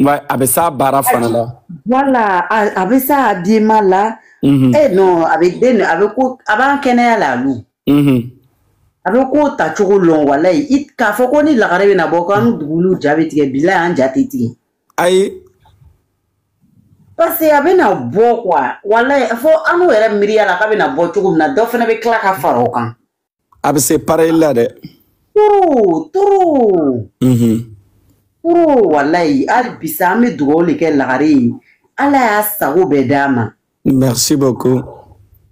Ouais, a bɛ s'a baara fana la. Voilà, a bɛ s'a habillement la. Mm -hmm. Eh non, a bɛ den, a bɛ ko, a b'an kɛnɛya la alu. Mm -hmm. A bɛ ko ta cogo lɔn walayi. I k'a fɔ ko ni lagare bɛ na bɔ ko an mhm. dugulu ja bɛ tigɛ, bilayi an ja tɛ tigɛ. Ayi. Parce que a bɛ na bɔ quoi. Walayi, fo annu yɛrɛ miiriya la k'a bɛ na bɔ cogo min na, dɔ fana bɛ tila ka fara o kan. a bɛ se pareil la dɛ. trop trop. Mhm. trop walayi hali bi sa an bɛ dugawu le kɛ lagare ye ala y'a sago bɛɛ d'a ma. merci beaucoup.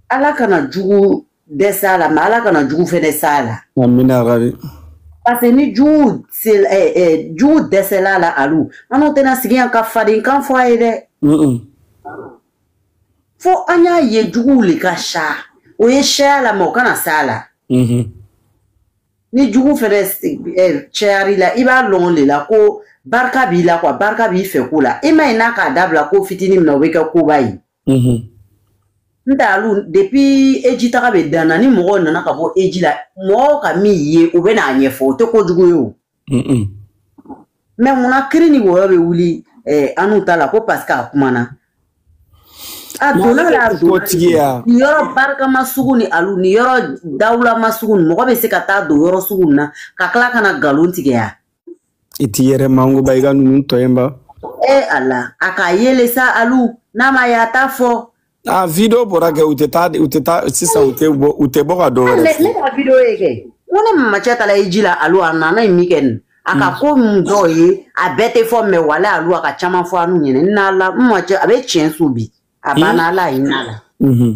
ala kana jugu dɛsɛ a la mɛ ala kana jugu fɛnɛ s'a la. amina rabi. parce que ni jugu se ɛ eh, ɛ eh, jugu dɛsɛla a la alu annu tɛna sigi yan ka fadenkan fɔ a ye dɛ. fo an y'a ye juguw le ka ca o ye caya la mɛ o kana s'a la mhm. ni jugu fɛnɛ eh, cayara i la i b'a lɔn le la ko barika b'i la quoi barika b'i fɛ ko la i ma ye n'a k'a dabila ko fitini min na o bɛ kɛ koba ye mhm. n tɛ alu depuis eji taga bɛ dan na ni mɔgɔw nana ka bɔ eji la mɔgɔw ka min ye o bɛ n'a ɲɛfɔ o tɛ kojugu ye o mɛ munna kiri ni wɔyɔ bɛ wuli eh, annu ta la ko parce que a kumana a donna la a donna ni yɔrɔ barikama sugu ni alu ni yɔrɔ dawulama sugu ni mɔgɔ bɛ se ka taa don yɔrɔ sugu na ka tila ka na nkalon tigɛya i t'i yɛrɛ makun ba i ka ninnu to yen ba e ala a k'a ye le sa alu n'a m'a ye a t'a fɔ Ah, video bɔra kɛ u tɛ taa u tɛ taa sisan u tɛ bɔ u tɛ bɔ ka dɔ wɛrɛ. Ne ne ka video ye kɛ ko ne mamacɛ taara eji la alu a nana ye min kɛ nin a ka mm. ko mun dɔw ye a bɛɛ tɛ fɔ mɛ wala alu a ka caman fɔ annu ɲɛna n na la n ma cɛ a bɛ tiɲɛ so bi a banna mm. ala ye hinɛ a la. Mm-hmm.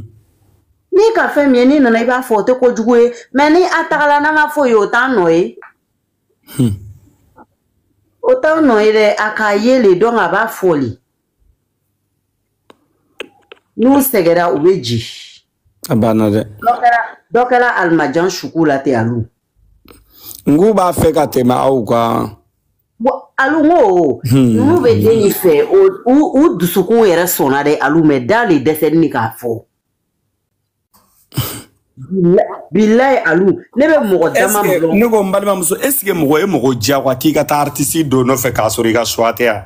n'i ka fɛn min ye n'i nana i b'a fɔ o tɛ kojugu ye mɛ ni a tagala n'a ma foyi ye o t'an nɔ ye. Hmm. o t'an nɔ ye dɛ a k'a ye le don a b'a fɔ le. n'u sɛgɛra u bɛ jigi a banna dɛ dɔ kɛra alimajan suku la ten alu n k'u b'a fɛ ka tɛmɛ aw kan alu n ko hmm. n'u bɛ den in fɛ u dusukun yɛrɛ sɔnna dɛ alu mɛ da le dɛsɛnin ni k'a fɔ bilayi alu ne bɛ mɔgɔ dama dɔn ne ko n balimamuso est ce que mɔgɔ ye mɔgɔ diyagoya k'i ka taa artiste dɔ nɔfɛ k'a sɔrɔ i ka choix tɛ yan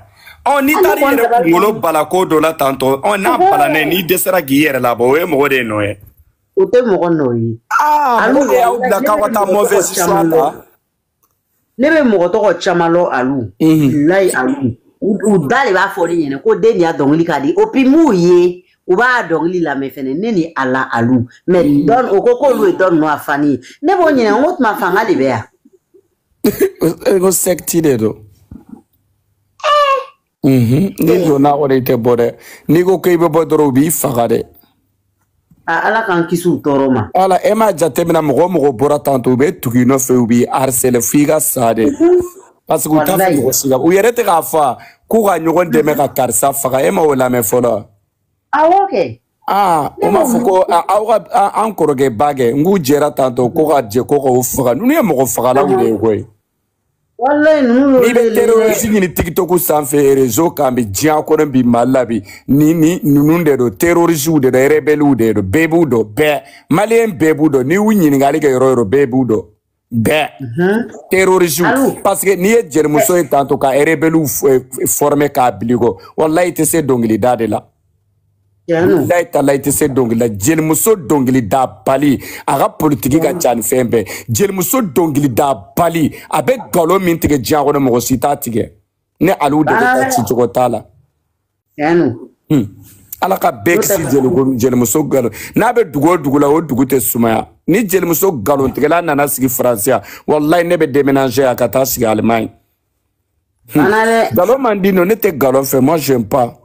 ɔ n'i taara i yɛrɛ kunkolo bala ko dɔ la tantɔ ɔ n'a balana n'i dɛsɛra k'i yɛrɛ labɔ o ye mɔgɔ de nɔ ye o tɛ mɔgɔ nɔ ye alu de y'aw bila k'aw ka taa mauvaise choix ta ne bɛ mɔgɔ tɔgɔ caman lɔn alu bilayi alu u da le b'a fɔ ne ɲɛna ko den in a dɔnkili ka di opi m'u ye u b'a dɔnkili lamɛn fɛnɛ ne ni a la alu mɛ dɔn o ko k'olu ye dɔn ninnu a fani ye ne b'o ɲininka n ko tuma fanga le bɛ yan ko secte de don Mhm. n'i donna kɔni i tɛ bɔ dɛ n'i ko k'i bɛ bɔ dɔrɔn u b'i faga dɛ a ala k'an kisi u tɔɔrɔ ma ala e m'a jateminɛ mɔgɔ o mɔgɔ bɔra tantɔ u bɛ tugu i nɔfɛ u b'i harcele f'i ka sa dɛ parce que u t'a fɛ Walayi. mɔgɔ si ka u yɛrɛ tɛ k'a fɔ k'u ka ɲɔgɔn dɛmɛ ka karisa faga e ma o lamɛn fɔlɔ wa? awɔ kɛ aa o m'a fɔ ko a- aw ka a- an kɔrɔkɛ ba kɛ n k'u jɛra tantɔ ko ka jɛ ko k'o faga ninnu ye mɔgɔ fagalaw de ye koyi walayi ninnu y'olu n'i bɛ de lajɛ terorisi ɲini tikitɔku sanfɛ rezo kan bi diɲɛ kɔnɔ bi mali la bi ni ni ninnu de don terorisiw de don rebɛliw de don bɛɛ b'u dɔn bɛɛ maliyɛn bɛɛ b'u dɔn n'i y'u ɲininkali kɛ yɔrɔ o yɔrɔ bɛɛ b'u dɔn bɛɛ terorisiw Allo. parce que n'i ye jelimuso ye tantɔ ka rebɛliw fɔrɔmɛ k'a bil'i kɔ walayi i tɛ se dɔnkilida de la layi ta layi tɛ se dɔnkili la jelimuso dɔnkili da bali a ka politiki ka ca ni fɛn bɛɛ jelimuso dɔnkili da bali a bɛ nkalon min tigɛ diɲɛ kɔnɔ mɔgɔ si t'a tigɛ ne aliw de bɛ taa ci cogo t'a la ala ka bɛɛ kisi jelimuso nkalon n'a bɛ dugu o dugu la o dugu tɛ sumaya ni jelimuso nkalontigɛla nana sigi faransi yan walayi ne bɛ déménager a ka taa sigi alimaɲi nkalon man di nɔ ne tɛ nkalon fɛ moi j'aime pas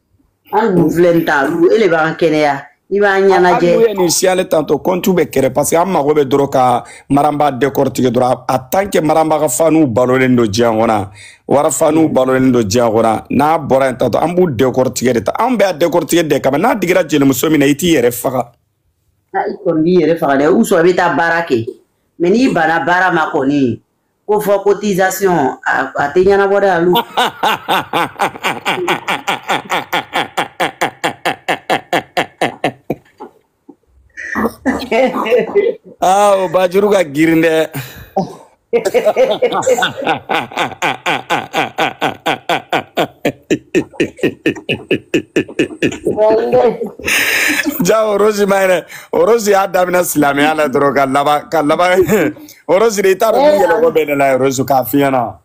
an dun filɛ nin ta lu e de b'an kɛnɛya i b'an ɲɛnajɛ hali n'u ye nin signaler tantɔ kɔntu bɛ créer parce que an mago bɛ dɔrɔn ka maranba décortiquer dɔrɔn en tant que maranba ka faniw balolen don diɲɛ kɔnɔ wara faniw balolen don diɲɛ kɔnɔ n'a bɔra yen tantɔ an b'u décortiquer de ta anw bɛ a décortiquer de kama n'a digira jelimuso min na i t'i yɛrɛ faga i kɔni b'i yɛrɛ faga dɛ ou soit i bɛ taa baara kɛ mais n'i bana baara ma kɔni ko fɔ cotisation a tɛ ɲɛnabɔ dɛ alu aa o bajuru ka girin dɛ ja orosi ma yɛrɛ orosi y'a daminɛ silamɛya la dɔrɔn ka laban ka laban Orosi i t'a dɔn min yɛlɛko bɛ ne la orosi ka fiɲɛ na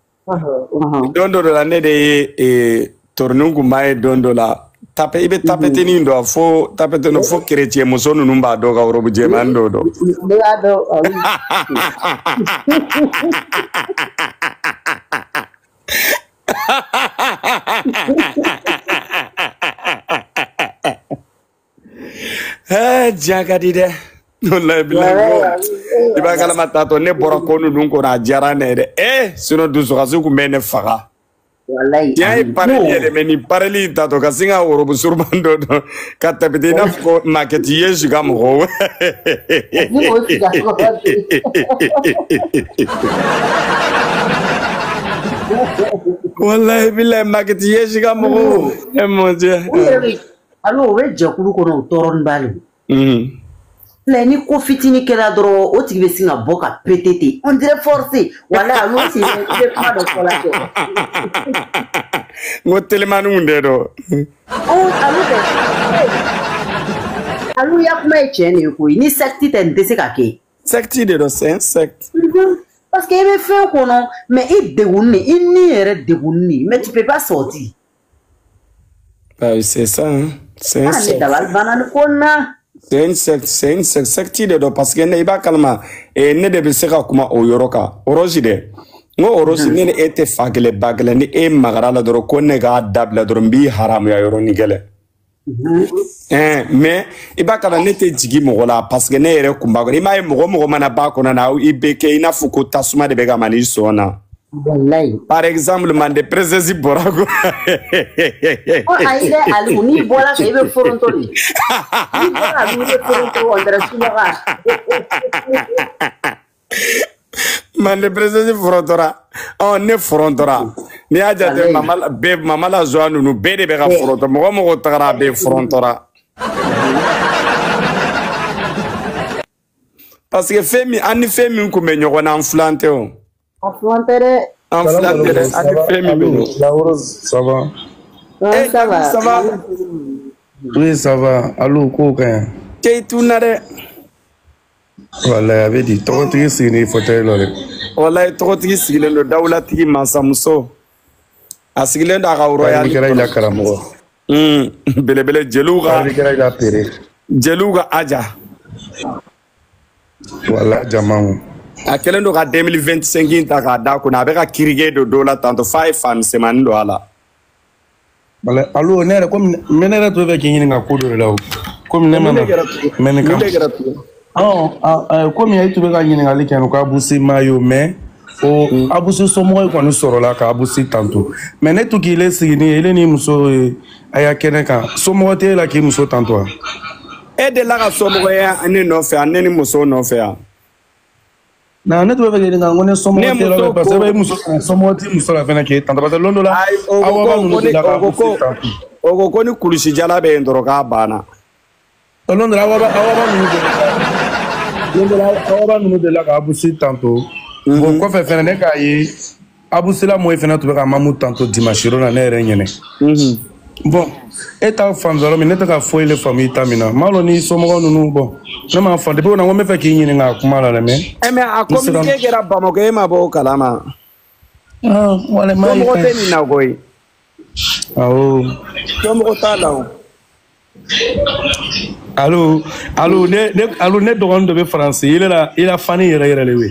don dɔ la ne de ye toroni kunba ye don dɔ la tape i bɛ tapetinin don fo tapetini fo kerecɛn muso ninnu b'a don ka worobu jɛman dɔw don. ne b'a dɔn Eh, diɲɛ ka di dɛ walayi bilayi ko i b'a kalama tatɔ ne bɔra ko ninnu kɔnɔ a diyara ne ye dɛ ee sinɔn dusukasi kun bɛ ne faga walayi diɲɛ ye pareli ye dɛ mɛ nin pareli in tatɔ ka sin ka worobu suruman dɔ don ka tapite i n'a fɔ ko makɛti ye su ka mɔgɔw ni o sigi a tɔgɔ ba de walayi bilayi makɛti ye su ka mɔgɔw e mon dieu u yɛrɛ bɛ Alu o bɛ jɛkulu kɔnɔ o tɔɔrɔnin ba de don. Unhun. Filɛ ni ko fitinin kɛra dɔrɔn o tigi bɛ sin ka bɔ ka pete ten on dirait forcé walayi a y'o siɲɛ i bɛ kuma dɔ fɔ la kɛ. N ko telimaniw de don. Ɔn Alu kɛ Alu i ka kuma ye tiɲɛ de ye koyi ni secte tɛ nin tɛ se ka kɛ. Secte de don c'est un secte. Unhun parce que i bɛ fɛn kɔnɔ mais i degunnin i ni yɛrɛ degunnin mais tu peux pas sortir. Bah, c'est ça, hein. C'est un ah, secte. C'est une secte, c'est une secte, secte de don parce que ne i b'a kalama eh, ne de bɛ se ka kuma o yɔrɔ kan orosi dɛ n ko orosi ne ni e tɛ fa kelen ba kelen ni e magara la dɔrɔn ko ne k'a dabila dɔrɔn n b'i haramuya yɔrɔnin kelen. ɛɛ mɛ i b'a kalama ne tɛ jigi mɔgɔ la parce que ne yɛrɛ kun b'a kɔnɔ i m'a ye mɔgɔ mɔgɔ mana b'a kɔnɔna i bɛ kɛ i n'a fɔ ko tasuma de bɛ ka man'i sɔn na. Wallahi. Par exemple, mande princesse bɔra ko. Ko ayi dɛ Alu n'i bɔra kɛ i bɛ foronto de. N'i bɔra Alu i bɛ foronto on dirait subaga. mande princesse forontora ɔ ne forontora n'i y'a jate mama la joie ninnu bɛɛ de bɛ ka foronto mɔgɔ mɔgɔ tagara a bɛɛ forontora parce que fɛn min an ni fɛn min tun bɛ ɲɔgɔn na an filan tɛ o an filan tɛ dɛ an filan tɛ dɛ an ni fɛn min bɛ ɲɔgɔn eh ça va ça va oui ça va allo ko ka ɲi keyituna dɛ walayi a bɛ di tɔgɔtigi sigilen fɔtɛyi la dɛ walayi tɔgɔtigi sigilen don dawulatigi mansamuso a sigilen don a ka rɔya ni kɛra i la karamɔgɔ belebele jeliw ka kɛra i la pere jeliw ka aja voilà jamanw a kɛlen don ka 2025 ta k'a da kunna a bɛ ka kirige don dɔ la tantɔ f'a ye fa misɛnmanin don a la voilà Alu ne yɛrɛ komi ne ne yɛrɛ tun bɛ k'i ɲininka ko dɔ de la o komi ne ma na mɛ nin kama ɔ komi e tun bɛ ka ɲininkali kɛ ko abusi ma ye o mɛ o abusi somɔgɔ in kɔni sɔrɔla ka abusi tanto mɛ ne tun k'ile siginin ele ni muso ye a y'a kɛnɛ kan somɔgɔ tɛ e la k'i muso tanto wa e delila ka somɔgɔ ye ne nɔfɛ yan ne ni muso nɔfɛ yan na ne tun bɛ fɛ k'i ɲininka ko ne somɔgɔ tɛ yɔrɔ la parce que i muso somɔgɔ t'i muso la fɛnɛ k'e tanto parce que lon dɔ la awa ba ninnu de la k'a fɔ k'e tanto. o ko ko ni kulusi jala bɛ yen dɔrɔn k'a banna. lon dɔ la awa ba ninnu de la k'abu si tanto. o kɔfɛ fɛnɛ ne k'a ye. abu si la mɔyi fɛnɛ tun bɛ ka mamu tanto dimanche lon na ne yɛrɛ ɲɛnɛ mhm. bɔn e t'a faamu yɔrɔ min ne tɛ ka foyi le faamu i ta min na m'a lɔn ni somɔgɔ ninnu bɔn ne m'a faamu depuis o na ko n bɛ fɛ k'i ɲininka a kuma la dɛ mɛ. ɛ mais a communiqué kɛra bamakɔ e ma bɔ o kalama. somɔgɔ tɛ nin na koyi. awɔ. somɔgɔ t'a la o. alo alo ne ne alo ne dɔgɔnin dɔ bɛ faransi i la i la fani yɛrɛ yɛrɛ le we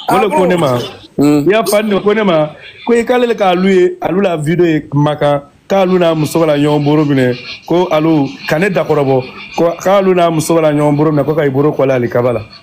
o le ko ne ma i la fani ko ne ma ko i k'ale le k'alu ye alu la video ye makan k'alu n'a muso bara ɲɔgɔn boro minɛ ko alu ka ne dakɔrɔbɔ ko k'alu n'a muso bara ɲɔgɔn boro minɛ ko ka i boro kɔlɛ alikaba la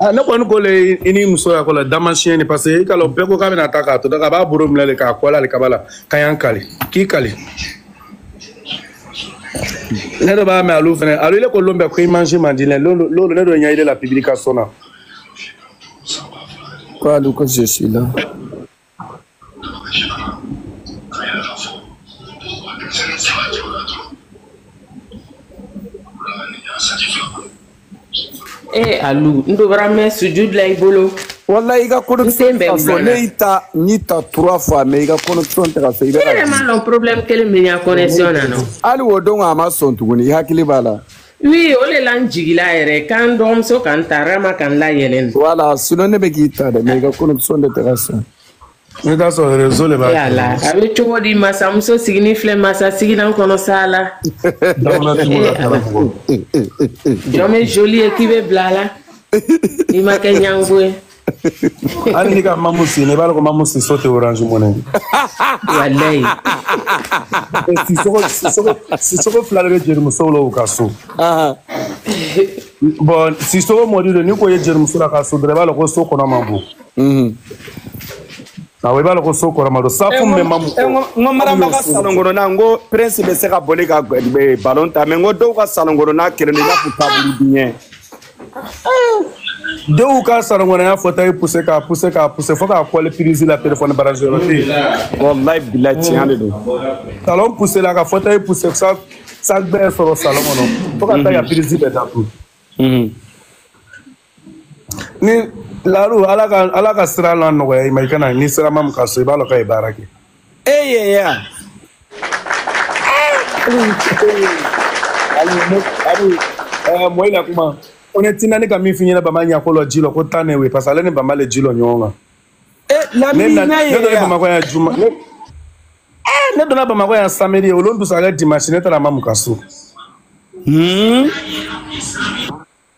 Ah, ne kɔni ko le i ni muso y'a ko la damasiyɛn de parce que i ka lon bɛɛ ko k'a bɛna taa k'a to da k'a b'a boro minɛ le k'a kɔlɛ alikaba la ka y'an kali k'i kali ne dɔ b'a mɛn alu fɛnɛ alu ile ko lon bɛɛ ko i mansi man di ne lolo ne dɔ ɲɛ ile la publication na ko alu ko je suis là Ee a n mɛ su la i bolo wala i ka kosen bɛɛ fɔ ne y'i ta n'i ta tura fɔ mɛ i ka kosɔn ta fɛ i bɛ ma dɔn porobi kelen min kɔnɛ na hali o don a ma sɔn tuguni i hakili b'a la Oui, o le la n jigila yɛrɛ k'an dɔgɔmuso ka n ta rama ka n layɛlɛn voilà sinon ne bɛ k'i ta dɛ mais i ka connexion de tɛ ka sɔn ne t'a sɔrɔ réseau de b'a yala a bɛ cogo di masamuso sigini filɛ masa sigilan kɔnɔ sa la jɔn bɛ joli ye k'i bɛ bila a la n'i ma kɛ ɲango ye hali n'i ka mamu si ye i b'a dɔn ko mamu si so tɛ orange money walayi sisoko fila de bɛ jelimusow la u ka so bon sisoko mɔdi don n'i k'o ye jelimuso la ka so dɔrɔn i b'a dɔn ko so kɔnɔ man bon awɔ i b'a dɔn ko so kɔrɔma don safu min bɛ mamu n ko marama ka salon kɔnɔna n ko prince bɛ se ka boli ka balon tan mais n ko dɔw ka salon kɔnɔna kelen don i b'a fɔ tabulu duɲɛ dɔw ka salon kɔnɔ y'a fauteuil puse k'a puse k'a puse fo k'a kɔlɛ pirizi la telefɔni brancher yɔrɔ tɛ yen wallahi billahi tiɲɛ de don salon pusela ka fauteuil puse sa sa bɛɛ sɔrɔ salon kɔnɔ fo ka taa ka pirizi bɛɛ datugu ni laru ala ka ala ka sira lanɔgɔya i ma i kana n'i sera mamu ka so i b'a lɔn k'a ye baara kɛ Eye ya. mɔyi la kuma o ne tinda ne ka min f'i ɲɛna bama ɲako lɔ ji lɔ ko tan ne we parce que ale ni bama le ji lɔ ɲɔgɔn kan ne donna bamakɔ yan juma ne donna bamakɔ yan samedi o lon duusagbɛ dimanche ne taara mamu ka so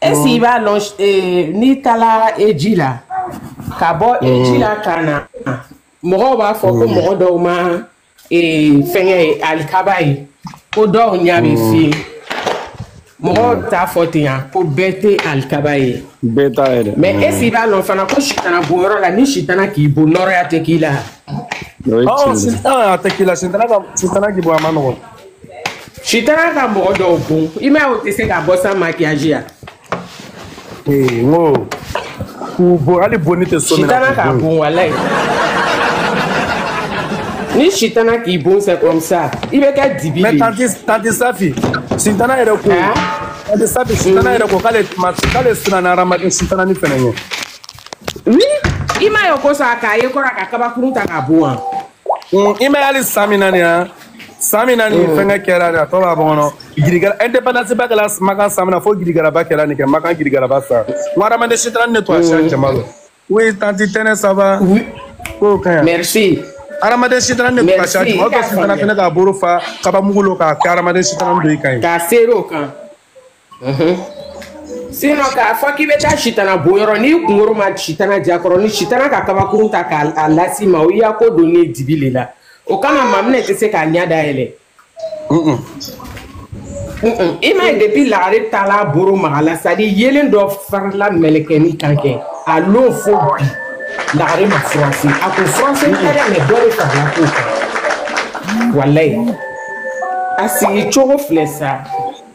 est-ce i b'a lɔn eh, n'i taara hiji la ka bɔ hiji la ka na mɔgɔw b'a fɔ ko mɔgɔ dɔw ma eh, fɛngɛ ye alikaba ye ko dɔw ɲa bɛ fiyɛn mɔgɔw t'a fɔ ten yan ko bɛɛ tɛ alikaba ye bɛɛ t'a ye dɛ mais est-ce i b'a lɔn fana ko sitana bon yɔrɔ la ni sitana k'i bon nɔrɔya tɛ k'i la o ye ɔ tiɲɛ ye sitana a tɛ k'i la sitana ka sitana k'i bon a man nɔgɔn sitana ka mɔgɔ dɔw bon i m'a ye o tɛ se ka bɔ sans maquillage yan. ee n ko k'u bon hali bonni tɛ so min na sitana ka bon walayi ni sitana k'i bon c'est comme ça i bɛ kɛ dibi de ye. mais tanti tanti safi sitana yɛrɛ ko tanti safi sitana yɛrɛ ko k'ale k'ale siranna hadamaden sitanani fɛnɛ ɲɛ. oui i m'a ye o ko sa k'a ye kɔrɔ ka kabakurun ta ka bon wa. i m'a ye hali san min na nin yan. san min na ni mm. fɛnkɛ kɛra nin a tɔ b'a bɔ kɔnɔ girigara indépendance ba kɛra makan san min na fo girigaraba kɛra nin kɛ makan girigaraba sa n ko hadamaden sitanani ne to a siya jama la oui tanti tɛnɛ ça va k'o ka ɲi merci hadamaden sitanani ne to a siya jama o tɔ sitana fɛnɛ k'a bolo fa kabamugu lɔ k'a kɛ hadamaden sitanani dɔyi kan ye k'a seri o kan sinon k'a fɔ k'i bɛ taa sitana bon yɔrɔ n'i kunkoro ma sitana jakɔrɔ ni sitana ka kabakurun ta k'a las'i ma o y'i ya ko don ne dibi le la o kama maminɛ tɛ se k'a ɲɛ dayɛlɛ i m'a ye depuis lagare taala boro maga la c'est-à-dire yeelen dɔ farila mɛlɛkɛni kan kɛ a lon fo bi lagare ma furanse a ko furanse tɛ dɛ mais dɔ de farila k'o kan walayi a sigi cogo filɛ sa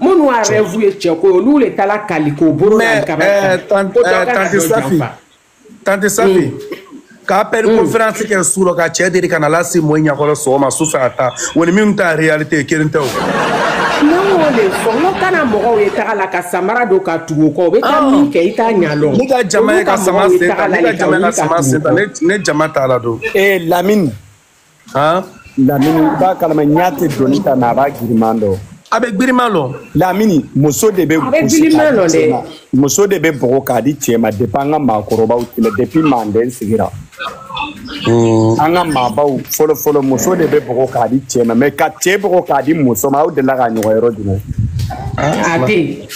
minnu y'a rêve ye cɛ ko olu de taara kali k'o bolo da kaba kan ko dɔ kana dɔ janfa tante safi k'appel conférence kɛ su lɔ ka cɛ deri ka na lase mɔyi ɲakɔrɔ sɔgɔma su fɛ a ta wa ni min ta réalité kelen tɛ o ne y'o de fɔ n ko kana mɔgɔw ye taga la ka samara don ka tugu o kɔ u bɛ taa min kɛ i t'a ɲa lɔn ne ka jama ye ka sama sen ta ne ka jama ye ka sama sen ta ne jama t'a la don ee lamini lamini i b'a kalama ɲa tɛ doni ta nka a b'a giriman dɔn a bɛ giriman lɔn lamini muso de bɛ gosi k'a di cɛ ma muso de bɛ bugɔ k'a di cɛ ma depuis an ka maakɔrɔbaw tile depuis manden sigira an ka maabaw fɔlɔ fɔlɔ muso de bɛ bugɔ k'a di cɛ ma mais ka cɛ bugɔ k'a di muso ma aw delila k'a ɲɔgɔn yɔrɔ jumɛn a tɛ yen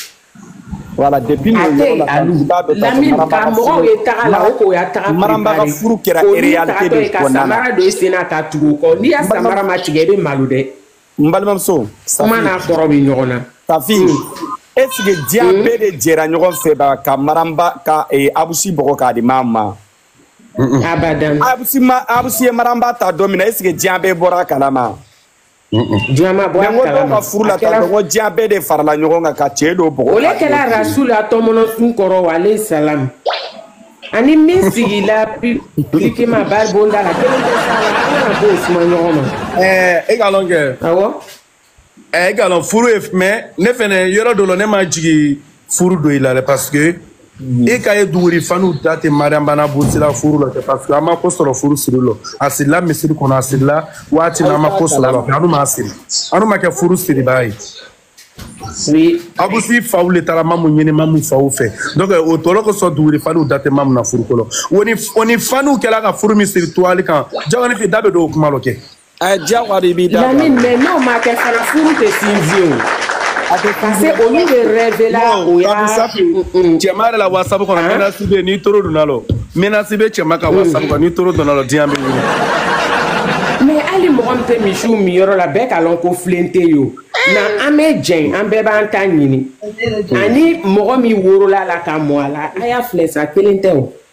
voilà depuis nin yɔrɔ la i b'a dɔn k'a fɔ maramba ka furu ye taga la o k'o y'a taga maramba ka furu kɛra réalité de kɔnɔna na samara don i sen na ka tugu o kɔ n'i y'a samara ma tigɛ i bɛ malo dɛ n balimamuso kuma n'a kɔrɔ bɛ ɲɔgɔn na safi est ce que diɲɛ bɛɛ de jɛra ɲɔgɔn fɛ ba ka maramba ka abusi bɔgɔ k'a di maa ma abadan abusi ma abusi ye maramba ta don min na est ce que diɲɛ bɛɛ bɔra a kalama diɲɛ ma bɔ a kalama mais n ko dɔw ka furu la tan n ko diɲɛ bɛɛ de farala ɲɔgɔn kan ka cɛ dɔ bɔgɔ o le kɛla rasul a tɔmɔnɔsun kɔrɔ alayhi salam ani min sigila publiquement bari bonda la kelen tɛ s'a la an kana b'o suma ɲɔgɔn ma ɛɛ e k'a lɔn kɛ awɔ ɛɛ e k'a lɔn furu ye mais ne fɛnɛ yɔrɔ dɔ la ne ma jigin furu don i la dɛ parce que mhm. e k'a ye duguri fanw da tɛ mariam ba n'abusi la furu la kɛ parce que an ma ko sɔrɔ furu siri lɔ a sirila misiri kɔnɔ a sirila waati na an ma ko sɔrɔ la fɛ anu ma siri anu ma kɛ furu siribaa ye abusi faw le taara mamu ɲini mamu faw fɛ donc o tɔlɔ kosɔn duguri fanw da tɛ mamu na furu kɔnɔ o ni fanw kɛla ka furu min siri toile kan jawani fi da bɛ don o kuma lɔ kɛ ɛ diyagoya de b'i da don a la. Lamine mais n'o ma kɛ fana furu tɛ sinsin o. Parce que olu de rêve la o y'a. Kabi Safi cɛma yɛrɛ la WhatsApp kɔnɔ menace bɛ yen n'i toro donna la o menace bɛ cɛma ka WhatsApp kɔnɔ n'i toro donna la o diɲɛ bɛ wuli. Mais hali mɔgɔ min tɛ misiw minyɔrɔ la bɛɛ k'a lɔn ko filen tɛ yen o. Na an bɛ jɛn an bɛɛ b'an ta ɲini ani mɔgɔ min worola la ka mɔ a la a y'a filɛ sa kelen tɛ o.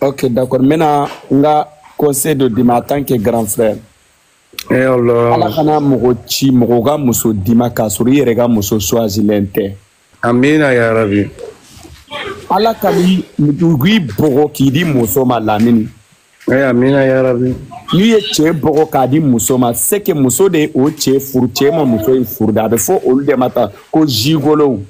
Ok, d'accord. Maintenant, n ka conseil de d'i ma en tant que grand frère. Eh Allah. Ala kana mɔgɔ si bɔgɔ ka muso d'i ma k'a sɔrɔ i yɛrɛ ka muso choisilen tɛ. Amina ya rabi. Ala kan'i bɔgɔ k'i di muso ma lamini. Eh amina ya rabi. N'i ye cɛ bɔgɔ k'a di muso ma c'est que muso de ye o cɛ furu cɛ ma muso in furu de a bɛ fɔ olu de ma tan ko jigolow.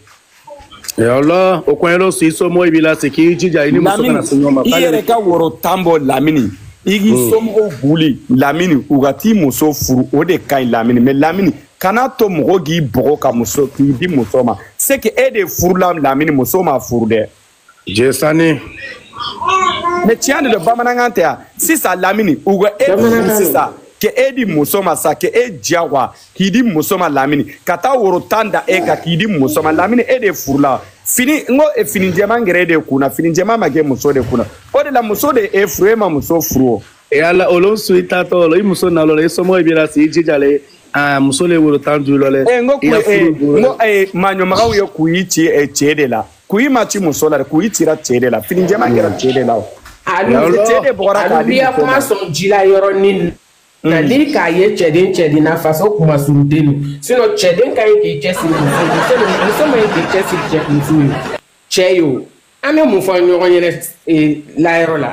yɔrɔ o kɔn yɛrɛ si somɔgɔ b'i la se k'i jija i ni muso kana se ɲɔgɔn ma i yɛrɛ ka woro tan bɔ lamini i k'i hmm. somɔgɔw buli lamini u ka t'i muso furu o de ka ɲi lamini mais lamini kana to mɔgɔ k'i bɔgɔ ka muso k'i di muso ma c'est que e de furula lamini muso ma furu dɛ jesani mais tiɲɛ de don bamanankan tɛ yan sisan lamini u ka e furu sisan ka e di muso ma sa ka e diyagoya k'i di muso ma lamini ka taa woro tan da e kan k'i di muso ma lamini e de furula fini n ko e, fini jɛman kɛra e de kun na fini jɛman ma kɛ muso de kun na o de la muso de e furu e ma muso furu o. e ala olu su i taatɔ o la i muso nalɔ la i somɔgɔ b'i la si i jija le aa muso le woro tan duuru lɔ lɛ. e n ko kun e n ko e maɲɔmaganw ye kun y'i ci e cɛ de la. kuyi ma ci muso la dɛ kuyi cira cɛ de la fini jɛma kɛra cɛ de la o cɛ de bɔgɔra k'a di muso ma sɔn ji la yɔrɔnin na ni mm. k'a ye cɛden cɛden n'a faso kuma suruden don sinɔn cɛden ka ɲi k'i cɛsiri muso muso muso man ɲi k'i cɛsiri cɛ muso ye cɛ ye o an bɛ mun fɔ ɲɔgɔn ɲɛnɛ layɔrɔ la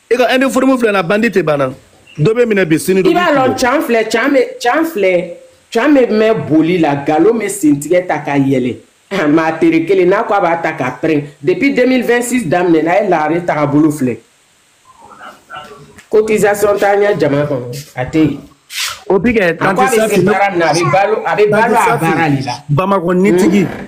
e ka uniforme filɛ na bandi tɛ ban na dɔ bɛ minɛ bi sini dɔ bɛ i b'a lɔn can filɛ can bɛ can filɛ can bɛ mɛn boli la galon bɛ sentigɛ ta ka yɛlɛ maa tere kelen n'a ko a b'a ta k'a pɛrɛn depuis 2026 daminɛ n'a ye lagare tagabolo filɛ cotisation t'a ɲɛ jama kɔnɔ a tɛ yen o bi kɛ tante safi a bɛ balo a bɛ balo a baara de la bamakɔ nitigi. Mm.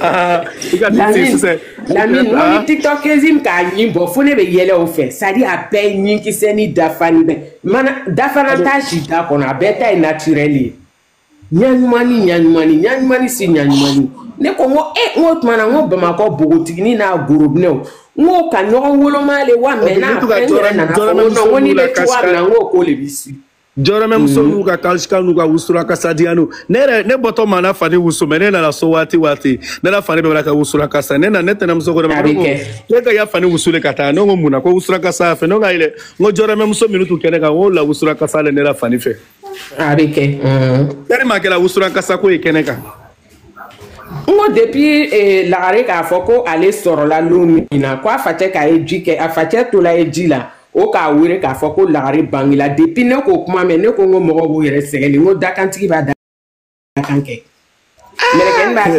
Ah, lamini ni ah. tiktɔkezi k'a ɲin bɔ fo ne bɛ yɛlɛ o fɛ sadi a bɛɛ ɲinkisɛni dafani bɛ mana dafana t'a si da kɔnɔ a bɛɛ ta ye naturɛli ye ɲaɲumani ɲaɲumani ɲaɲumani si ɲaɲumani ne ko n ko e n ko tuma na n ko bamakɔ npogotigini n'a gorobinɛw n ko ka ɲɔgɔn woloma le wa mɛ n'a fɛn yɛrɛ nana fɔ n ko n'i bɛ cogoya min na n ko k'o de b'i si jɔramɛ muso n'u ka kalsika n'u ka wusura kasa diyanu ne yɛrɛ ne bɔtɔ ma n na fani wusu mais ne nana so waati waati ne la fani bɛɛ ka wusura kasa ne na ne tɛnɛmuso ko ne ma ko ne ka ya fani wusu le ka taa ne ko mun na ko wusura kasa fɛ ne ka yɛlɛ n ko jɔramɛ muso minnu tun kɛnɛ kan o la wusura kasa le ne la fani fɛ a bɛ kɛ tɛri ma kɛra wusura kasa ko ye kɛnɛ kan n ko depuis eh, lagare k'a fɔ ko ale sɔrɔla lon min na ko a facɛ ka ɲɛji kɛ a facɛ tola ɲɛji la o k'a wele k'a fɔ ko lagare bangila depuis ne k'o kuma mɛn ne ko n ko mɔgɔw b'u yɛrɛ sɛgɛn le n ko dakantigi b'a dakan kɛ mɛlɛkɛni b'a